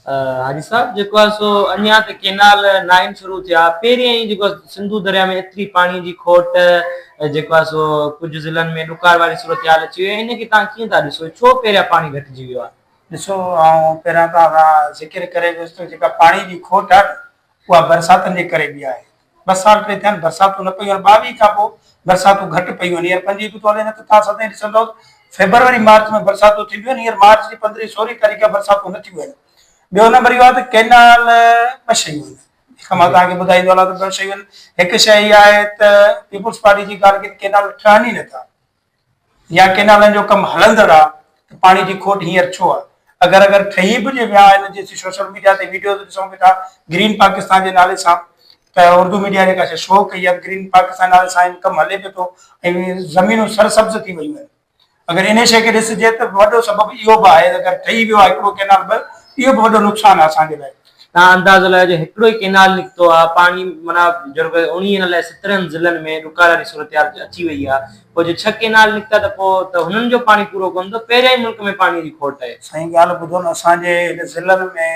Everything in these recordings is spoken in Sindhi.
حاجي صاحب جيڪو آهي سو اڃا ته ڪينال ناهن شروع ٿيا پهريان ئي جيڪو سنڌو دريا ۾ ايتري پاڻي جي کوٽ جيڪو آهي سو ڪجهه ضلعن ۾ ڏڪار واري صورتحال اچي وئي ان کي تان ڪيئن ٿا ڏسو ڇو پهريان پاڻي گهٽجي ويو آهي؟ ڏسو آئون پهريان توهان سان ذڪر ڪري گذريس ته جيڪا پاڻي جي کوٽ آهي نه اها برساتن جي ڪري به آهي ٻه سال پئي ٿين برساتون نه پيون آهن ٻاويهه کان پوء برساتون گهٽ پيون آهن هينئر پنجويهه به ٿو هلي نه ته تان سدائين ڏسندا آهيو فيبروري مارچ ۾ برساتون ٿينديون آهن هينئر مارچ جي پندرهين سورهين تاريخ کان برساتون نه ٿيون آهن ٻيو نمبر اهو آهي ته ڪينال ٻه شيون آهن هڪ مان تان کي ٻڌائيندو هلان ته ٻه شيون آهن هڪ شيء اها آهي ته پيپلز پارٽي جي ڳالهه ڪينال ٺهن ئي نٿا يا ڪينالن جو ڪم هلندڙ آ ته پاڻي جي کوٽ هينئر ڇو آ؟ اگر اگر ٺهي به جي ويا آهن جي سي سوشل ميڊيا تي ويڊيوز ڏسون به ٿا گرين پاڪستان جي نالي سان ته اردو ميڊيا جيڪا سي شو ڪئي آ گرين پاڪستان نالي سان هن ڪم هلي به ٿو ۽ زمينون سر سبز ٿي ويون آهن اگر انهي شي کي ڏسجي ته وڏو سبب اهو به آهي اگر ٺهي ويو آ هڪڙو ڪينال ٻه اهو به وڏو نقصان آ اسان جي لاء تان اندازو لڳائيو جو هڪڙو ئي ڪئنال نڪتو آ، پاڻي معنيٰ جهڙو ڪري اڻويهن الائي سترهن ضلعن ۾ ڏڪار واري صورتحال اچي وئي آ، پوء جو ڇهه ڪئنال نڪتا ته پوء ته هنن جو پاڻي پورو ڪونه ٿو، پهريان ئي ملڪ ۾ پاڻيء جي کوٽ آهي. سائين ڳالهه ٻڌو نه اسان جي هن ضلعن ۾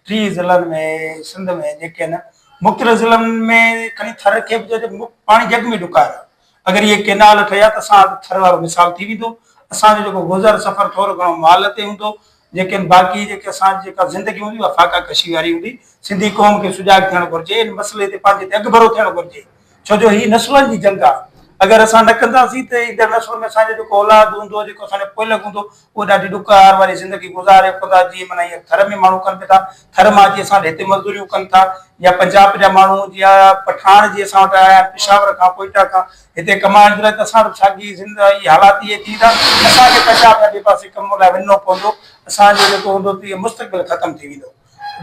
ٽيهه ضلعن ۾ سنڌ ۾ جيڪي آهن مختلف ضلعن ۾ کڻي ٿر کي به چئجي پاڻي جڳ ۾ ڏڪار آ. اگر اهي ڪينال ٺهيا ته اسان هٿ ٿر وارو مثال ٿي ويندو، اسان جو جيڪو گذر سفر ٿورو گهڻو مال تي هوندو، ليڪن باقي جيڪي اسان جي جيڪا زندگي هوندي اها فاقا ڪشي واري هوندي، سنڌي قوم کي سجاڳ ٿيڻ گهرجي ان مسئلي تي پنهنجي تي اڳڀرو ٿيڻ گهرجي ڇو جو هي نسلن جي جنگ آهي اگر اسان نه ڪنداسين ته ايندڙ نسل ۾ اسان جو جيڪو اولاد هوندو جيڪو اسان جو پوئلڳ هوندو اهي ڏاڍي ڏک هار واري زندگي گذاري رکن ٿا جيئن معنيٰ هيئن ٿر ۾ ماڻهو ڪن به ٿا ٿر مان اچي اسان وٽ هتي مزدوريون ڪن ٿا يا پنجاب جا ماڻهو جيئن پٺاڻ جي اسان وٽ آيا پشاور کان ڪوئيٽا کان هتي ڪمائڻ جي لاء ته اسان وٽ به ساڳي زندگي اهي حالات اهي ٿي ويندا اسان کي پنجاب يا ٻئي پاسي ڪم لاء وڃڻو پوندو اسان جو جيڪو هوندو تي مستقبل ختم ٿي ويندو.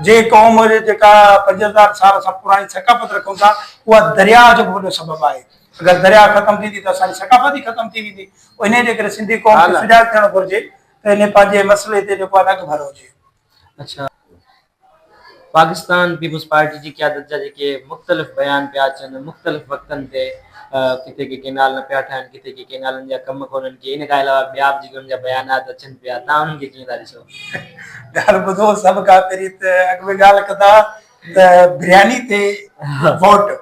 جنهن قوم جي جيڪا پنج هزار سال سان پراڻي ثقافت رکون ٿا اها درياء جو به وڏو سبب آهي اگر درياء ختم ٿيندي ته اسان جي ثقافت ئي ختم ٿي ويندي انهي جي ڪري سنڌي قوم کي سجاڳ ٿيڻ گهرجي ته انهي پنهنجي مسئلي تي جيڪو آهي اڳڀر هجي. اڇا پاڪستان پيپلز پارٽي جي قيادت جا جيڪي مختلف بيان پيا اچن مختلف وقتن تي ڪٿي ڪي ڪينال نه پيا ٺاهن ڪٿي ڪي ڪينالن جا ڪم ڪونهن ڪي ان کان علاوه ٻيا به جيڪي انهن جا بيانات اچن پيا تان انهن کي ڪيئن ٿا ڏسو؟ ڳالهه ٻڌو سڀ کان پهرين ته اڳ ۾ ڳالهه ڪندا ته برياني تي ووٽ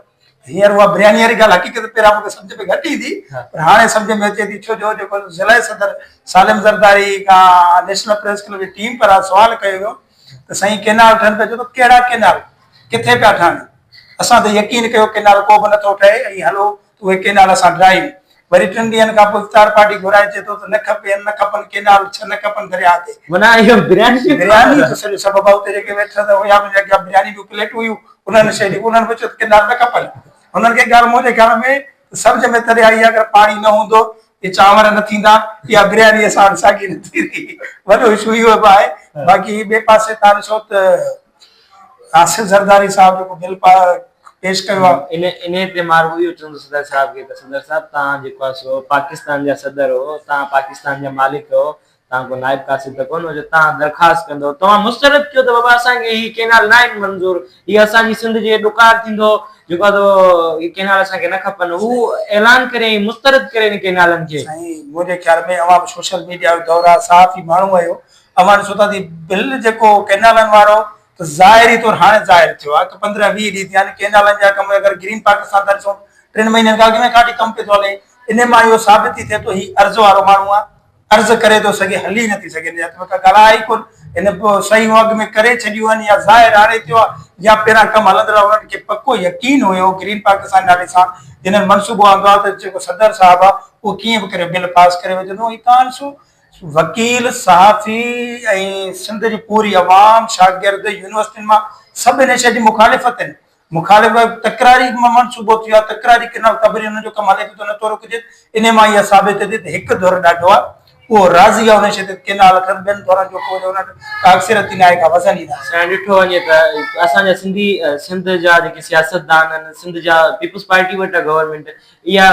هينئر اها برياني واري ڳالهه حقيقت پهريان مون کي سمجھ ۾ گهٽ ايندي پر هاڻي سمجھ ۾ اچي ٿي ڇو جو جيڪو ضلعي صدر سالم زرداري کان نيشنل پريس ڪلب جي ٽيم پاران سوال ڪيو ويو ته سائين ڪينال ٺهن پيا چيو ته ڪهڙا ڪينال ڪٿي پيا ٺهن اسان ته يقين ڪيو ڪينال ڪو به نٿو ٺهي ۽ هلو اهي ڪينال اسان ڊرائيو. وري ٽن ڏينهن کان پوء افطار پارٽي گهرائي چئي ٿو ته نه کپي ان نه کپن ڪينال ڇهه نه کپن درياهه تي. معنيٰ اهو برياني جو برياني جو سڄو سبب آهي اتي جيڪي ويٽر هئا يا منهنجي اڳيان برياني جون پليٽون هيون انهن شيء جي انهن به چيو ته ڪينال نه کپن هنن کي ڳالهه منهنجي خيال ۾ ته سمجهه ۾ تڏهن آئي اگر پاڻي نه هوندو اهي چانور نه ٿيندا اها برياني اسان وٽ ساڳي نه ٿيندي وڏو اشو اهو به آهي باقي ٻئي پاسي تان ڏسو ته آصف زرداري صاحب جيڪو بل پيش ڪيو آ. انهي تي مان رڳو اهو چوندس صدر صاحب کي ته صدر صاحب توهان جيڪو آ سو پاڪستان جا صدر هو توهان پاڪستان جا مالڪ هو توهان ڪو نائب قاصد ته ڪونه هو جو توهان درخواست ڪندو توهان مسترد ڪيو ته بابا اسان کي هي ڪينال ناهن منظور هي اسان جي سنڌ جي ڏڪار ٿيندو جيڪو آ سو هي ڪينال اسان کي نه کپن هو اعلان ڪريائين مسترد ڪري ان ڪينالن کي. سائين منهنجي خيال ۾ اوهان به سوشل ميڊيا جو دور آ صحافي ماڻهو آهيو اوهان ڏسو ٿا تي بل جيڪو ڪينالن وارو ته ظاهري طور هاڻي ظاهر ٿيو آهي ته پندرهن ويهه ڏينهن ٿيا آهن ڪينالن جا ڪم اگر گرين پاڪستان ٿا ڏسون ٽن مهينن کان اڳ ۾ کاٽي ڪم پيو ٿو هلي ان مان اهو ثابت ٿي ٿئي ٿو هي عرض وارو ماڻهو آهي عرض ڪري ٿو سگهي هلي نٿي سگهي ان جا ته ڪا ڳالهه آهي ڪون ان شيون اڳ ۾ ڪري ڇڏيون آهن يا ظاهر هاڻي ٿيو آهي يا پهران ڪم هلندڙ انهن کي پڪو يقين هيو گرين پاڪستان نالي سان جنهن منصوبو آندو آهي ته جيڪو صدر صاحب آهي اهو ڪيئن به ڪري بل پاس ڪري وجهندو هي تان سو وڪيل، صحافي ۽ سنڌ جي پوري عوام، شاگرد، يونيورسٽين مان سڀ هن شيء جي مخالف آهن. مخالف تڪراري منصوبو ٿيو آهي، تڪراري ڪئنال قبري هن جو ڪم هلي ٿو ته نه ٿو روڪجي، انهي مان اها ثابت ٿئي ٿي ته هڪ ڌر ڏاڍو آهي، اهو راضي آهي ان شيء تي ته ڪئنال ٺهن، ٻين ڌرن جو ڪو ان وٽ ڪا اڪثريتي ناهي، ڪا وزن ئي ناهي. سائين ڏٺو وڃي ته اسان جا سنڌي سنڌ جا جيڪي سياستدان آهن، سنڌ جا پيپلز پارٽي وٽ آهي گورنمينٽ، اها